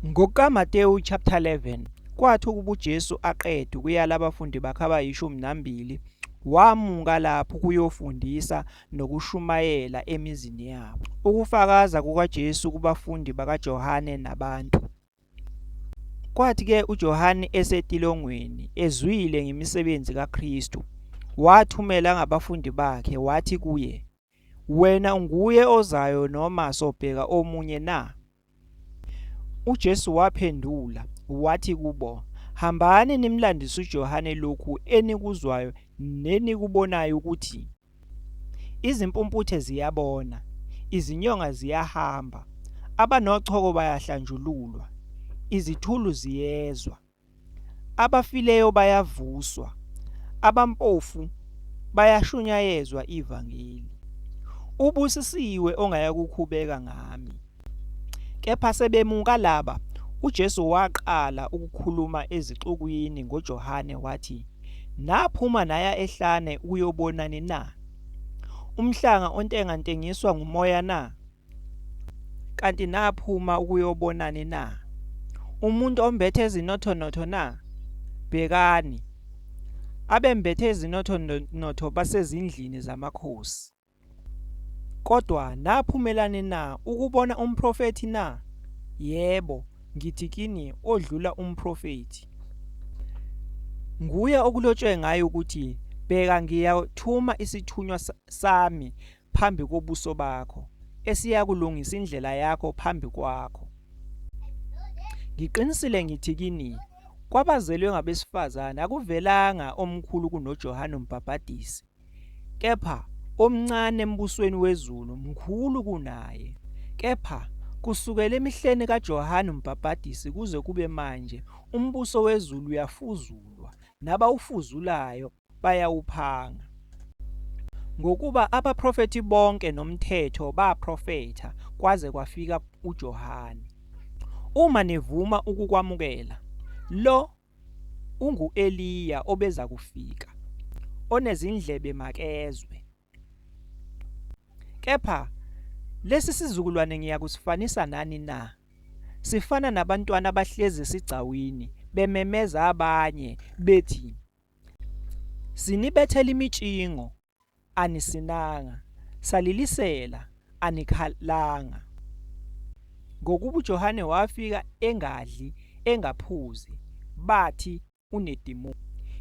NgokukaMatewu chapter 11, kwathi ukuba uJesu aqeda ukuyala abafundi bakhe abayishumi nambili, wamuka lapho ukuyofundisa nokushumayela emizini yabo. Ukufakaza kukaJesu kubafundi bakaJohane nabantu. Kwathi-ke uJohane esetilongweni, ezwile ngemisebenzi kaKristu, wathumela ngabafundi bakhe, wathi kuye, Wena unguye ozayo noma sobheka omunye na? UJesu waphendula wathi kubo, Hambani nimlandise uJohane lokhu enikuzwayo nenikubonayo ukuthi izimpumputhe ziyabona, izinyonga ziyahamba, abanochoko bayahlanjululwa, izithulu ziyezwa. Abafileyo bayavuswa, abampofu bayashunyayezwa ivangeli. Ubusisiwe ongayakukhubeka ngami. Kepha sebemuka laba, uJesu waqala ukukhuluma ezixukwini ngoJohane wathi, Naphuma naya ehlane ukuyobonani na? Umhlanga ontengantengiswa ngumoya na? Kanti naphuma ukuyobonani na? Umuntu ombethe ezinothonotho na? Bhekani, abembethe ezinothonotho basezindlini zamakhosi. Kodwa naphumelani na ukubona umprofethi na? Yebo, ngithi kini odlula umprofethi. Nguye okulotshwe ngaye ukuthi bheka ngiyathuma isithunywa sami phambi kobuso bakho, esiyakulungisa indlela yakho phambi kwakho. Ngiqinisile ngithi kini, kwabazelwe ngabesifazane akuvelanga omkhulu kunoJohane uMbhabhadisi, kepha omncane embusweni wezulu mkhulu kunaye. Kepha kusukela emihleni kaJohane uMbhabhadisi kuze kube manje, umbuso wezulu uyafuzulwa, nabawufuzulayo bayawuphanga. Ngokuba abaprofethi bonke nomthetho baprofetha kwaze kwafika uJohane. Uma nivuma ukukwamukela, lo ungu-Eliya obeza kufika, onezindlebe makezwe. Kepha lesi sizukulwane ngiyakusifanisa nani na? Sifana nabantwana abahlezi esigcawini bememeza abanye bethi Sinibethela imitshingo, anisinanga, salilisela, anikhalanga. Ngokuba uJohane wafika engadli, engaphuzi, bathi unedimoni.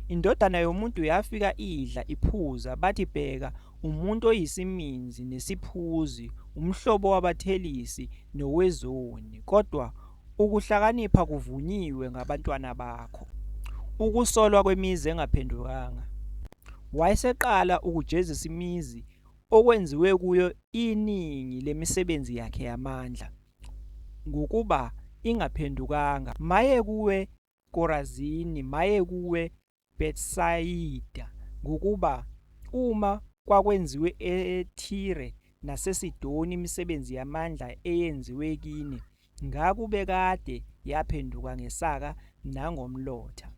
Indodana yomuntu yafika idla, iphuza, bathi bheka, umuntu oyisiminzi nesiphuzi, umhlobo wabathelisi nowezoni, kodwa Ukuhlakanipha kuvunyiwe ngabantwana bakho. Ukusolwa kwemizi engaphendukanga. Wayeseqala ukujezisa imizi okwenziwe kuyo iningi lemisebenzi yakhe yamandla, ngokuba ingaphendukanga. Maye kuwe, Korazini! Maye kuwe, Bethsayida, ngokuba uma kwakwenziwe eThire naseSidoni imisebenzi yamandla eyenziwe kini, ngakube kade yaphenduka ngesaka nangomlotha.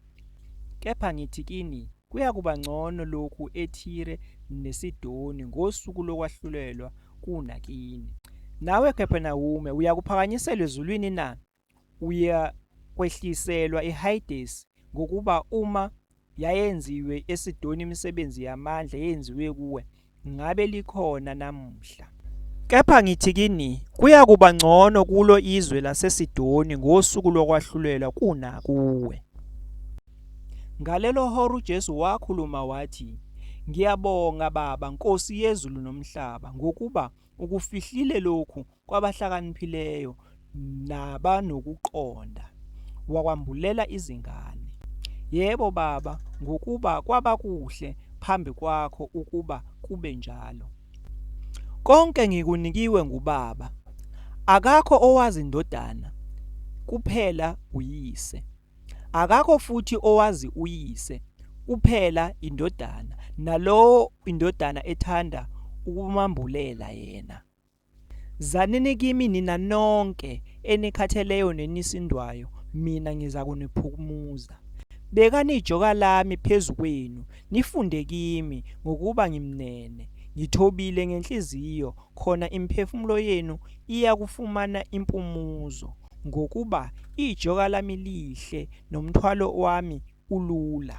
Kepha ngithi kini, kuyakuba ngcono lokhu eThire neSidoni ngosuku lokwahlulelwa kunakini. Nawe Kapernawume, uyakuphakanyisela ezulwini na? uyakwehliselwa iHayidesi, ngokuba uma yayenziwe eSidoni imisebenzi yamandla eyenziwe kuwe, ngabe likhona namuhla. Kepha ngithi kini, kuyakuba ngcono kulo izwe laseSidoni ngosuku lokwahlulelwa kunakuwe. Ngalelo hora uJesu wakhuluma wathi, Ngiyabonga Baba, Nkosi yezulu nomhlaba, ngokuba ukufihlile lokhu kwabahlakaniphileyo nabanokuqonda, wakwambulela izingane. Yebo, Baba, ngokuba kwaba kuhle phambi kwakho ukuba kube njalo. Konke ngikunikiwe nguBaba. Akakho owazi indodana, kuphela uyise. Akakho futhi owazi uyise, kuphela indodana, nalowo indodana ethanda ukumambulela yena. Zanini kimi nina nonke enikhatheleyo nenisindwayo, mina ngizakuniphumuza. Bekani ijoka lami phezu kwenu, nifunde kimi, ngokuba ngimnene, ngithobile ngenhliziyo, khona imiphefumulo yenu iyakufumana impumuzo, ngokuba ijoka lami lihle nomthwalo wami ulula.